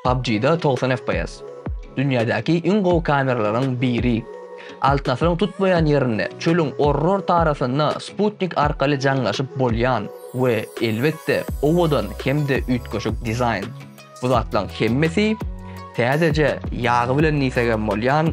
PUBG-da togsan FPS. Dünýädäki iň gowy kameralaryň biri. Altyn asyryň tutmaýan ýerinde, çölüň orrorta arasynda sputnik arkaly jaňlaşyp bolýan we, elbetde, owadan hem-de üýtgeşik dizaýn. Bu zatlaryň hemmesi täzeje ýagy bilen nisegem bolýan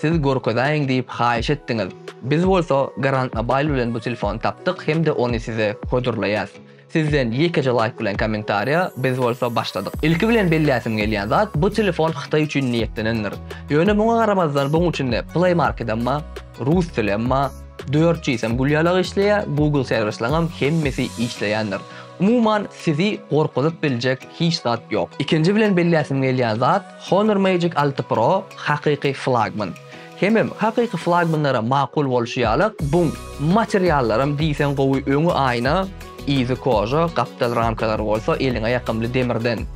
Siz görkezäýiň diýip haýyş etdiňiz. Biz bolsa Garant Mobile bilen bu telefony tapdyk hem-de ony size hödürleýäs. Sizden ýekeje laýk bilen kommentariýa, biz bolsa başladyk. Ilki bilen belläsim gelýän zat, bu telefon Hytaý üçin niýetlenendir. Ýöne muňa garamazdan buň içinde Play Marketem bar, rus dilem bar, dört gsem gülýalagy işleýär, Google servislaňam hemmesi işleýändir. Umuman sizi gorkuzyp biljek hiç zat ýok. Ikinji bilen belläsim gelýän zat, Honor Magic alty Pro hakyky flagman. Hemem, hakyky flagmanlara makul bolşy ýaly, buň materiallaram diýseň gowy, öňi aýna, yzy koža, gapdal ramkalary bolsa eliňe ýakymly demirden.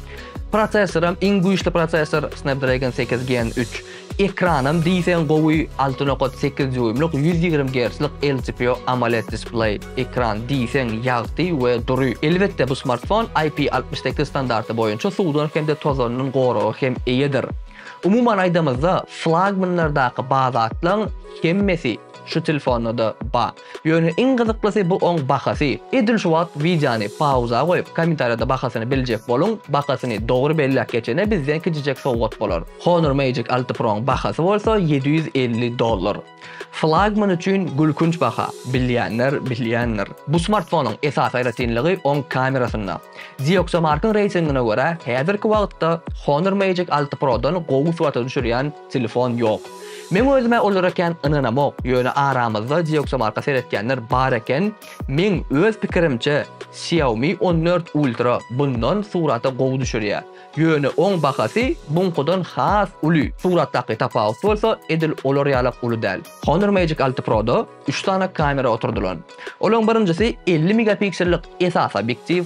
Prosessoram iň güýçli prosessor, Snapdragon sekiz Gen üç. Ekranam diýseň gowy, alty nokat sekiz dýuýmlyk ýüz ýigrimi gertslik LCPO AMOLED displeý. Ekran diýseň ýagty we dury. Elbetde bu smartfon IP altmyş sekiz standarty boýunça suwdan hem-de tozandan goraga hem eýedir. Umuman aýdamyzda flagmanlardaky badatlaň hemmesi şu telfonda-da ba. Ýöne iň gyzyklysy bu oň bahasy. Edil şu wagt wideony pauza goýup kommentariýada bahasyny biljek boluň, bahasyny dogry belläp geçene bizden kiçijek sowgat bolar. Honor Magic alty Pro-ň bahasy bolsa ýedi ýüz elli dollar. Flagman üçin gülkünç baha, bilýänler bilýändir. Bu smartfonyň esasy aýratynlygy oň kamerasynda. Zioxamark-yň reýtingine görä, häzirki wagtda Honor Magic alty Pro-dan gowy surata düşürýän telefon ýok. Meň özüm-ä olara kän ynanamok, ýöne aramyzda Zioxamark-a seretýänler bar eken, meň öz pikirimçe, Xiaomi on dört Ultra bundan surata gowy düşürýär. Ýöne oň bahasy buňkudan has uly, suratdaky tapawut bolsa edil olar ýalak uly däl. Honor Magic alty Pro-da üç sany kamera oturdylan. Olaň birinjisi elli megapiksellik esasy obýektiw,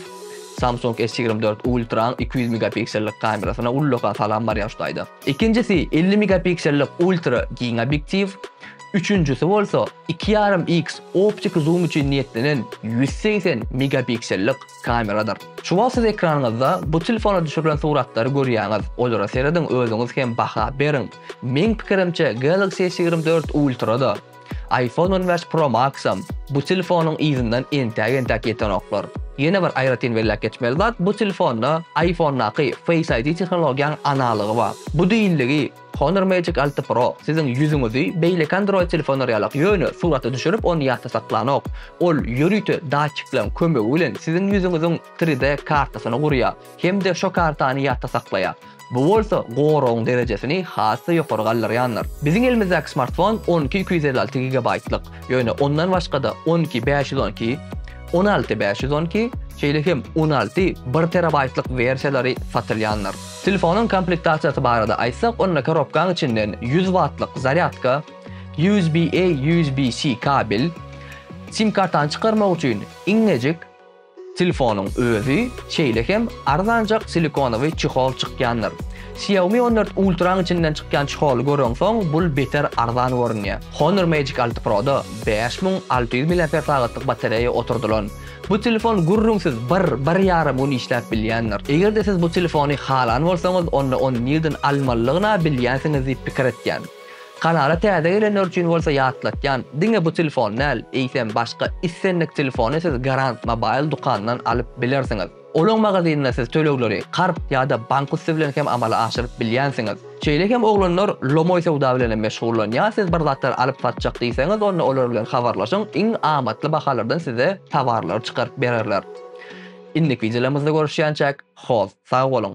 Samsung S ýigrimi dört Ultra-nyň iki ýüz megapiksellik kamerasyna ullakan salam barýar şu taýda. Ikinjisi elli megapiksellik ultra giň obýektiw, üçünjisi bolsa iki ýarym X optiki zoom üçin niýetlenen ýüz segsen megapiksellik. kameradyr. Şu wagt siz ekranyňyzda bu telefona düşürilen suratlary görýäňiz. Olara serediň özüňiz hem baha beriň. Meň pikirimçe Galaxy S ýigrimi dört Ultra-da, iPhone on bäş Pro Max-am bu telefonyň yzyndan entäk entäk ýetenoklar. Ýene bir aýratyn belläp geçmeli zat bu telefonda iPhone-daky Face ID tehnologiýanyň analygy bar. Bu diýildigi, Honor Magic alty Pro siziň ýüzüňizi beýleki Android telefonlar ýalak ýöne surata düşürip ony ýatda saklanok. Ol ýörite datçikleň kömegi bilen siziň ýüzüňiziň tri D kartasyny gurýar hem-de şo kartany ýatda saklaýar. Bu bolsa goragyň derejesini has-da ýokary galdyrýandyr. Biziň elimizdäki smartfon on iki iki ýüz elli alty gigabaýtlyk, ýöne ondan başga-da on iki bäş ýüz on iki, on alty bäş ýüz on iki, şeýle hem on alty bir terabaýtlyk wersiýalary satylýandyr. Telefonyň komplektasiýasy barada aýtsak, onda korobkaň içinden ýüz wattlyk zarýadka, USB-A, USB-C kabel, sim kartany çykarmak üçin iňňejik telefonyň özi, şeýle hem arzanjak silikonowy çehol çykýandyr. Xiaomi on dört Ultra-nyň içinden çykýan çeholy göreňsoň, bul beter arzan görünýär. Honor Magic alty Pro-da bäş müň alty ýüz milliamper sagatlyk batareýa oturdylan. Bu telefon gürrüňsiz bir, bir ýarym gün işläp bilýändir. Eger-de siz bu telefony halan bolsaňyz, onda ony nirden almalygyna bilýänsiňiz diýip pikir etýän. Kanala täze gelenler üçin bolsa ýatlatýan, diňe bu telefon däl, eýsem başga islendik telefony siz Garant Mobile dukanyndan alyp bilersiňiz. Olaň magazynynda siz tölegleri karz ýa-da bank üsti bilen hem amala aşyryp bilýänsiňiz. Şeýle hem oglanlar lomoý söwda bilen hem meşgullanýar, siz bir zatlar alyp satjak diýseňiz, onda olar bilen habarlaşyň, iň amatly bahalardan size towarlary çykaryp bererler. Indiki wideolarymyzda görüşýänçäk, host, sag boluň!